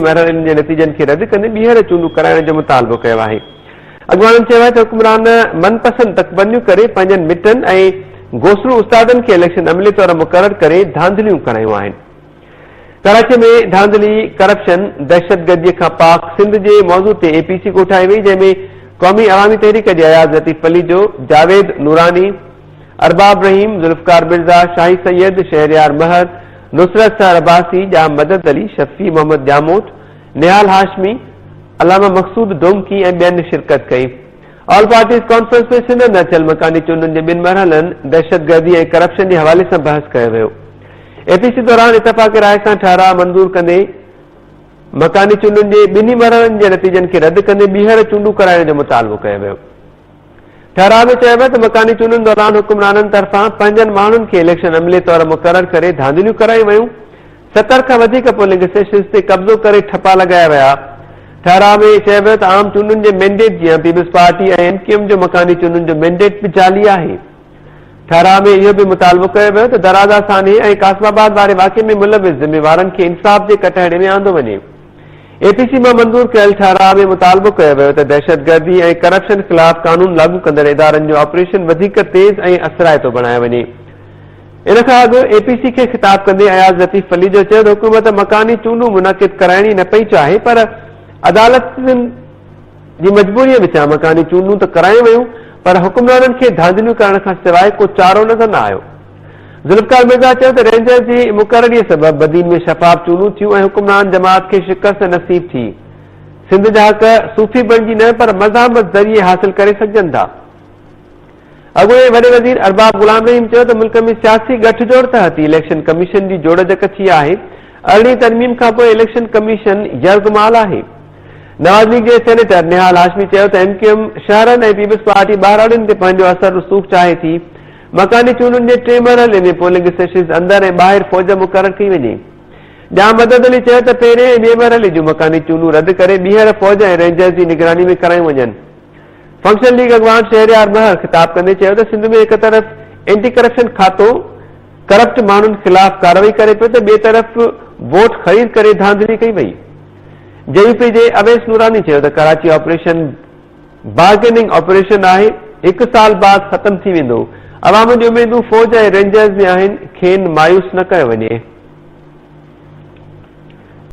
مهررن جي نتيجن کي رد ڪندي ٻيهر چونڊون ڪرائڻ جو مطالبو ڪيو آهي. اڳواڻن چيو آهي ته حڪمران من پسند تڪبنديون ڪري پنهنجن مٽن ۽ گوسرو استادن کي اليڪشن عملي طور مقرر ڪري ڌانڌليون ڪرايون آهن. ڪراچي ۾ ڌانڌلي، ڪرپشن، دهشتگردي کان پاڪ سنڌ جي موضوع تي اي پي سي ڪوٺائي وئي جنهن ۾ قومي عوامي تحريڪ جي اياز لطيف پليجو، جاويد نوراني، ارباب رحيم، ذوالفقار مرزا، شاهي سيد، شهريار مهر، نصرت سحر عباسي، ڄام مدد علي، شفيع محمد ڄاموٽ، نهال هاشمي، علامه مقصود ڊومڪي ۽ ٻين شرڪت ڪئي. آل پارٽيز ڪانفرنس ۾ سنڌ اندر ٿيل مڪاني چونڊن جي ٻن مرحلن، دهشتگردي ۽ ڪرپشن جي حوالي سان بحث ڪيو ويو. اي پي سي دوران اتفاق راء سان ٺهراء منظور ڪندي مڪاني چونڊن جي ٻنهي مرحلن جي نتيجن کي رد ڪندي ٻيهر چونڊون ڪرائڻ جو مطالبو ڪيو ويو. ٺهراء ۾ چيو ويو ته مڪاني چونڊن دوران حڪمرانن طرفان پنهنجن ماڻهن کي اليڪشن عملي طور مقرر ڪري ڌانڌليون ڪرايون ويون، ستر کان وڌيڪ پولنگ اسٽيشنز تي قبضو ڪري ٺپا لڳايا ويا. ٺهراء ۾ چيو ويو ته عام چونڊن جي مينڊيٽ جيان پيپلز پارٽي ۽ ايم ڪيو ايم جو مڪاني چونڊن جو مينڊيٽ به جعلي آهي. ٺهراء ۾ اهو به مطالبو ڪيو ويو ته درازا سانحي ۽ قاسم آباد واري واقعي ۾ ملوث ذميوارن کي انصاف جي ڪٽهڙي ۾ آندو وڃي. اي پي سي مان منظور ڪيل ٺهراء ۾ مطالبو ڪيو ويو ته دهشتگردي ۽ ڪرپشن خلاف قانون لاڳو ڪندڙ ادارن جو آپريشن وڌيڪ تيز ۽ اثرائتو بڻايو وڃي. ان کان اڳ اي پي سي کي خطاب ڪندي اياز لطيف پليجو چيو ته حڪومت مڪاني چونڊون منعقد ڪرائڻ ئي نه پئي چاهي پر عدالتن جي مجبوريء وچان مڪاني چونڊون ته ڪرايون ويون پر حڪمرانن کي ڌانڌليون ڪرڻ کان سواء ڪو چارو نظر نه آيو. ذوالفقار مرزا چيو ته رينجرز جي مقرري سبب بدين ۾ شفاف چونڊون ٿيون ۽ حڪمران جماعت کي شڪست نصيب ٿي. سنڌ جا حق صوفي بڻجي نه پر مزاحمت ذريعي حاصل ڪري سگهجن ٿا. اڳوڻي وڏي وزير ارباب غلام رحيم چيو ته ملڪ ۾ سياسي ڳٺ جوڙ تحت ئي اليڪشن ڪميشن جي جوڙجڪ ٿي آهي، ارڙهين ترميم کانپوء اليڪشن ڪميشن يرغمال آهي. نواز ليگ جي سينيٽر نهال هاشمي چيو ته ايم ڪيو ايم شهرن ۽ پيپلز پارٽي ٻهراڙين تي پنهنجو اثر رسوخ چاهي ٿي، مڪاني چونڊن جي ٽئين مرحلي ۾ پولنگ اسٽيشنز اندر ۽ ٻاهر فوج مقرر ٿي وڃي. ڄام مدد علي چيو ته پهرين ۽ ٻئي مرحلي جون مڪاني چونڊون رد ڪري ٻيهر فوج ۽ رينجرز جي نگراني ۾ ڪرايون وڃن. فنڪشن ليگ اڳواڻ شهريار مهر خطاب ڪندي چيو ته سنڌ ۾ هڪ طرف اينٽي ڪرپشن کاتو ڪرپٽ ماڻهن خلاف ڪارروائي ڪري پيو ته ٻئي طرف ووٽ خريد ڪري ڌانڌلي ڪئي وئي. جي يو پي جي اويس نوراني چيو ته ڪراچي آپريشن بارگيننگ آپريشن آهي، هڪ سال بعد ختم ٿي ويندو، عوام جون اميدون فوج ۽ رينجرز ۾ آهن، کين مايوس نه ڪيو وڃي.